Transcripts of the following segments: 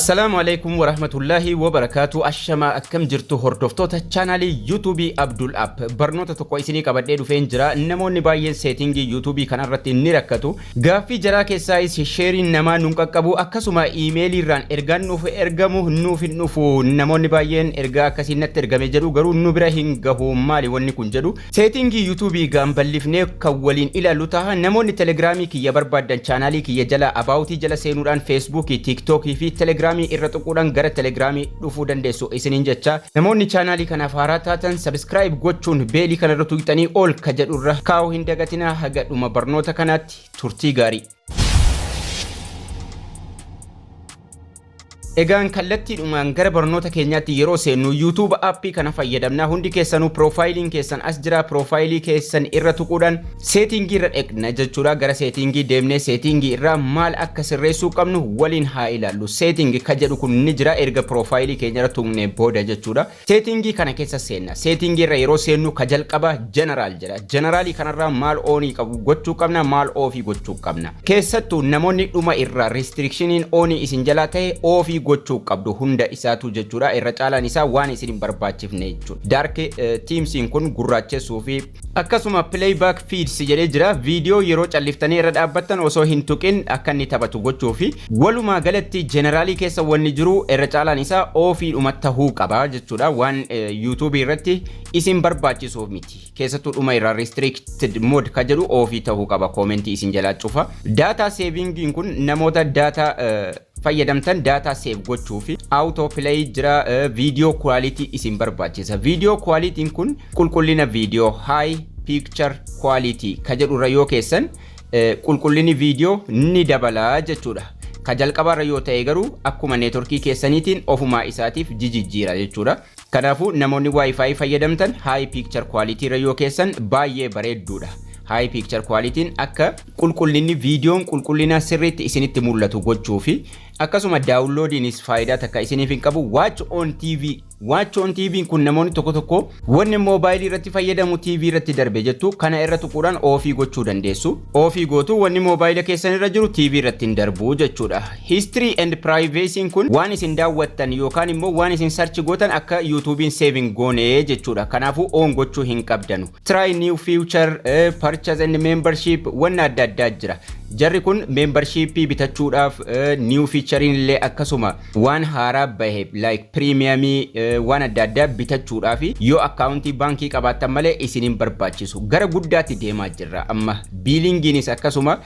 Assalaamu Aleykum Warahmatullaahi Wabarakaatu Ashamaa akkam jirtu hordoftoota channel YouTube Abdul App barnoota tokko isinii qabadhee dhufeen jira namoonni baay'een seetingii YouTube kana irratti ni rakkatu gaaffii jaraa keessaayis sheeriin namaa nun qaqqabu akkasuma iimeelii irraan ergaan nuuf ergamu nuuf hin dhufu namoonni baay'een ergaa akkasiin natti ergame jedhu garuu nu bira hin gahu maali wanni kun jedhu Seetingii YouTube gaan ballifnee kan waliin ilaallu taha. Namoonni Telegram kiyya barbaaddan channel kiyya jala About jala seenuudhaan Facebook, TikTok fi Telegram irra tuquudhaan gara Telegram dhufuu dandeessu isiniin jecha. Namoonni channel kanaaf haaraa taatan subscribe gochuun beelii kana irra tuqxanii all ka jedhu irra kaa'uu hin dagatinaa. Haga dhuma barnoota kanaatti turtii gaarii. Egaan kallattiidhumaan gara barnoota keenyaatti yeroo seennu YouTube appii kana fayyadamna. Hundi keessanuu piroofaayiliin keessan as jira. Piroofaayilii keessan irra tuquudhaan seetiingii irra dhaqna jechuudha. Gara seetiingii deemnee seetiingii irraa maal akka sirreessuu qabnu waliin haa ilaallu. Seetiingi ka jedhu kun ni jira erga piroofaayilii keenya irra tuqnee booda jechuudha. Setting kana keessa seenna. Setting irra yeroo seennu ka jalqaba general jedha. General kanarraa maal on qabu gochuu qabna, maal off gochuu qabna. Keessattu namoonni dhuma irra restrictioniin on isin jalaa ta'e off gochuu qabdu hunda isaatu jechuudha. Irra caalaan isaa waan isin hin barbaachifne jechuudha. Dark themes kun gurraachessuu fi Akkasuma Playback Feeds jedhee jira, viidiyoo yeroo calliftanii irra dhaabbattan osoo hin tuqin akka inni taphatu gochuufi. Walumaa galatti General keessa wanni jiru irra caalaan isaa ofiidhuma tahuu qaba jechuudha, waan YouTube irratti isin barbaachisuuf miti. Keessattuu dhuma irraa Restricted Mode ka jedhu ofi tahuu qaba, comment isin jalaa cufa. Data Saving kun namoota data fayyadamtan data save gochuuf auto play jira video quality isin barbaachisa video quality kun qulqullina video high picture quality ka jedhu irra yoo keessan qulqullinni video ni dabala jechuudha ka jalqabaa irra yoo ta'e garuu akkuma networkii keessaniitiin ofumaa isaatiif jijijjiira jechuudha kanaafuu namoonni wifi fayyadamtan high picture quality irra yoo keessan baay'ee bareedduudha high picture quality akka Qulqullinni viidiyoon qulqullina sirriitti isinitti mul'atu gochuu fi akkasuma daawunloodiinis faayidaa takka isiniif hin qabu. Watch on TV Watch on TV'n kun namoonni tokko tokko wanni moobaayilii irratti fayyadamu TV irratti darbe jettu kana irra tuquudhaan oofii gochuu dandeessu. Oofii gootu wanni moobaayila keessan irra jiru TV irratti hin darbu jechuudha. History and Privacy'n kun waan isin daawwattan yookaan immoo waan isin search gootan akka YouTube'n save hin goone jechuudha. Kanaafuu on gochuu hin qabdanu. Try new future, purchase and membership wanna adda addaa jira. Jarri kun membership bitachuudhaaf new featurein illee akkasuma waan haaraa bahe like premium waan adda addaa bitachuudhaaf yoo akkaawuntii baankii qabaattan malee isin hin barbaachisu. Gara guddaatti deemaa jirra amma biilingiinis akkasuma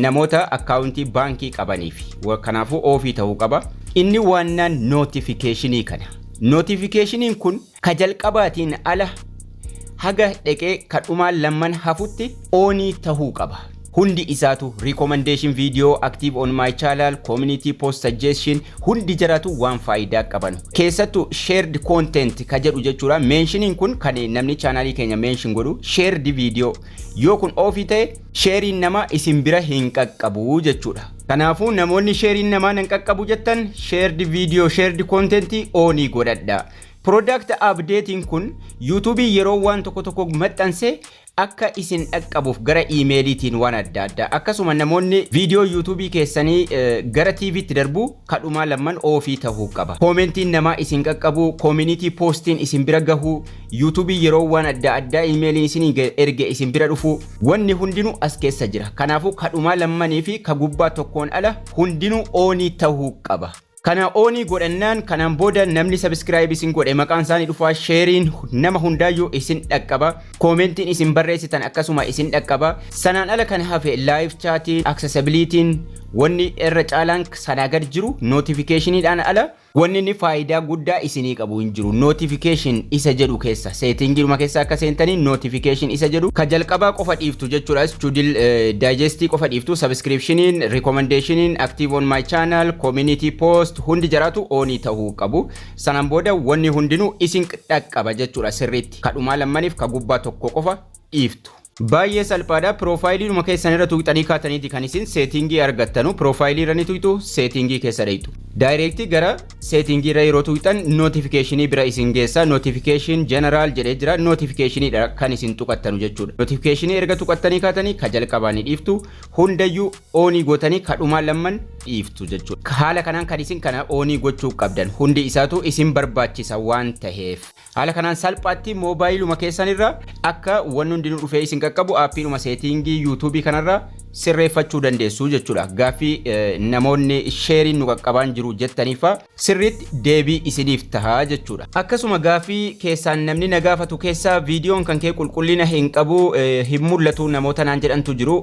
namoota akkaawuntii baankii qabaniif kanaafuu oofii ta'uu qaba. Inni waannaan notification kana. Notification kun Ka jalqabaatiin ala haga dheqee ka dhumaa lamman hafutti on tahuu qaba. Hundi isaatu recommendation video active on my channel community post suggestion hundi jaraatu waan faayidaa qabanu. Keessattu shared content ka jedhu jechuudha mentioning kun kan namni channel keenya mention godhu shared video yoo kun ofi ta'e sharein nama isin bira hin qaqqabu jechuudha. Kanaafuu namoonni sharein namaa nan qaqqabu jettan shared video shared content on godhadha. Product update'n kun YouTube yeroo waan tokko tokko maxxanse akka isin dhaqqabuuf gara iimeeliitiin waan adda addaa akkasuma namoonni viidiyoo YouTube keessanii gara TV'tti darbu kadhumaa lamman oofii tahuu qaba. Koomentiin namaa isin qaqqabuu, community postiin isin bira gahuu, YouTube yeroo waan adda addaa iimeeliin isin erge isin bira dhufuu wanni hundinuu as keessa jira. Kanaafuu kadhumaa lammanii fi ka gubbaa tokkoon ala hundinuu oonii tahuu qaba. Kana oonii godhannaan kanaan booda namni subscribe isin godhe maqaan isaanii dhufaa sheeriin nama hundaayyuu isin dhaqqaba koomentiin isin barreessitan akkasuma isin dhaqqaba sanaan ala kan hafe live chaatiin accessibilitiin wanni irra caalaan sanaa gad jiru notificationidhaan ala wanni inni faayidaa guddaa isinii qabu hin jiru notification isa jedhu keessa Setting numa keessa akka seentanii notification isa jedhu ka jalqabaa qofa dhiiftu jechuudha. Studil digest qofa dhiiftu subscriptioniin, recommendationiin, active on my channel, community post hundi jaraatu oonii tahuu qabu. Sanaan booda wanni hundinuu isin dhaqqaba jechuudha sirriitti. Ka dhumaa lammanif ka gubbaa tokko qofa dhiiftu. Baay'ee salphaadha. Piroofaayiliinuma keessan irra tuqxanii kaataniiti kan isin seetiingii argattanu. Piroofaayilii irra ni tuqxu, seetiingii keessa dhayxu. Daayireektii gara seetiingii irra yeroo tuqxan nootifikeeshinii bira isin geessa. Nootifikeeshin jeneraal jedhee jira. Nootifikeeshiniidha kan isin tuqattanu jechuudha. Nootifikeeshinii erga tuqattanii kaatanii ka jalqabaa ni dhiiftu. Hundayyuu oonii gootanii ka dhumaa lamman dhiiftu jechuudha. Haala kanaan kan isin kana oonii gochuu qabdan hundi isaatu isin barbaachisa waan taheef. Haala kanaan salphaatti moobaayiluma keessan irra akka wanni hundinuu dhufee isin qaqqabu aappiidhuma seetiingii yuutuubii kanarra sirreeffachuu dandeessu jechuudha. Gaaffii namoonni sheeriin nu qaqqabaan jiru jettaniifa sirriitti deebii isiniif taha jechuudha. Akkasuma gaaffii keessaan namni na gaafatu keessaa viidiyoon kan kee qulqullina hin qabu hin mul'atu namoota naan jedhantu jiru.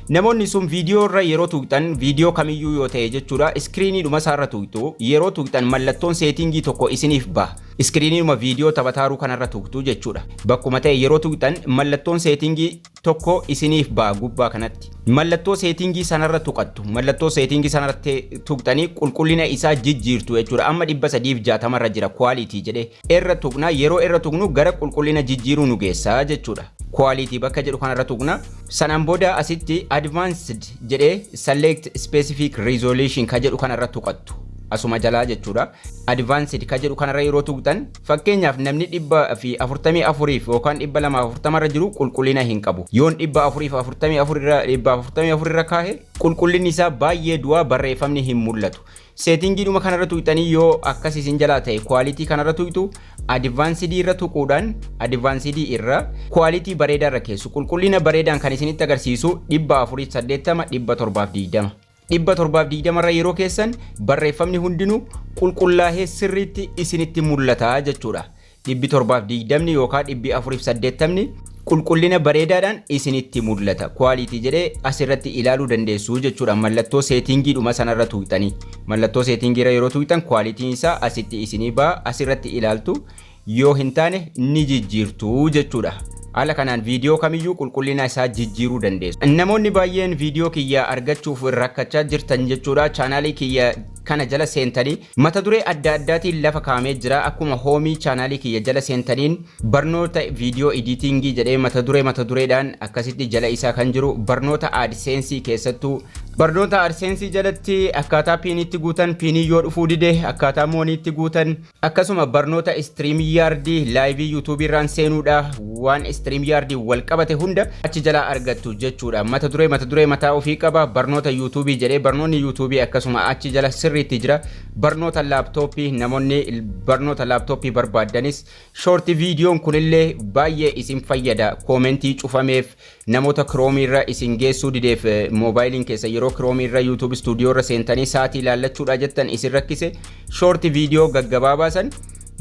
Namoonni sun viidiyoo irra yeroo tuqxan viidiyoo kamiyyuu yoo ta'e jechuudha iskiriiniidhuma isaarra tuqxu yeroo tuqxan mallattoon seetiingii tokko isiniif baha. Iskiriiniinuma viidiyoo taphataaru kanarra tuqxu jechuudha. Bakkuma ta'e yeroo tuqxan mallattoon seetingii tokko isiniif ba'a gubbaa kanatti. Mallattoo seetingii sanarra tuqattu. Mallattoo seetingii sanarratti tuqxanii qulqullina isaa jijjiirtu jechuudha. Amma 360 irra jira quality jedhee. Irra tuqna yeroo irra tuqnu gara qulqullina jijjiiruu nu geessa jechuudha. Quality bakka jedhu kanarra tuqna. Sanaan booda asitti advanced jedhee select specific resolution ka jedhu kanarra tuqattu. Asuma jalaa jechuudha. advanced ka jedhu kanarra yeroo tuqxan fakkeenyaaf namni 144 fi yookaan 240 irra jiru qulqullina hin qabu yoon 444 irra 444 irra kaahe qulqullinni isaa baay'ee du'aa barreeffamni hin mul'atu seetingiidhuma kanarra tuqxanii yoo akkas isin jalaa ta'e kwaalitii kanarra tuqxu advanced irra tuquudhaan advanced irra kwaalitii bareedaa irra keessu qulqullina bareedaan kan isinitti agarsiisu 480 720 720 irra yeroo keessan barreeffamni hundinuu qulqullaahee sirriitti isinitti mul'ata jechuudha. 720 yookaan 480 qulqullina bareedaadhaan isinitti mul'ata. Quality jedhee asirratti ilaaluu dandeessu jechuudha. Mallattoo seetingii dhuma sanarra tuuqxanii. Mallattoo seetingii irra yeroo tuuqxan quality'n isaa asitti isinii ba'a asirratti ilaaltu. yoo hin taane ni jijjiirtu jechuudha. Haala kanaan viidiyoo kamiyyuu qulqullina isaa jijjiiruu dandeessu. Namoonni baay'een viidiyoo kiyya argachuuf rakkachaa jirtan jechuudha. Chaanaalii kiyya kana jala seentanii mata duree adda addaatiin lafa kaa'amee jira. Akkuma hoomii chaanaalii kiyya jala seentaniin barnoota viidiyoo editingii jedhee mata duree mata dureedhaan akkasitti jala isaa kan jiru barnoota AdSense keessattuu barnoota AdSense jalatti akkaataa piiniitti guutan piinii yoo dhufuu dide akkaataa mooniitti guutan Akkasuma barnoota StreamYard laayivii YouTube irraan seenuudha waan StreamYard wal qabate hunda achi jalaa argattu jechuudha. Mata duree mata duree mataa ofii qaba barnoota YouTube jedhee barnoonni YouTube akkasuma achi jala sirriitti jira. Barnoota laaptooppii namoonni barnoota laaptooppii barbaaddanis shoorti viidiyoon kunillee baay'ee isin fayyada koomentii cufameef Namoota Chrome irra isin geessuu dideef mobile keessan yeroo Chrome irra YouTube studio irra seentanii sa'atii ilaallachuudhaa jettan isin rakkise short video gaggabaabaa san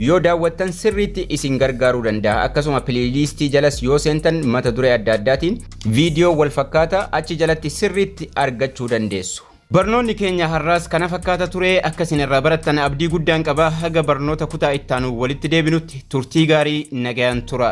yoo daawwattan sirriitti isin gargaaruu danda'a. Akkasuma playlist jalas yoo seentan mata duree adda addaatiin video wal fakkaataa achi jalatti sirriitti argachuu dandeessu. Barnoonni keenya har'aas kana fakkaata ture akka isin irraa barattan abdii guddaan qaba haga barnoota kutaa ittaanu walitti deebinutti turtii gaarii nagayaan tura.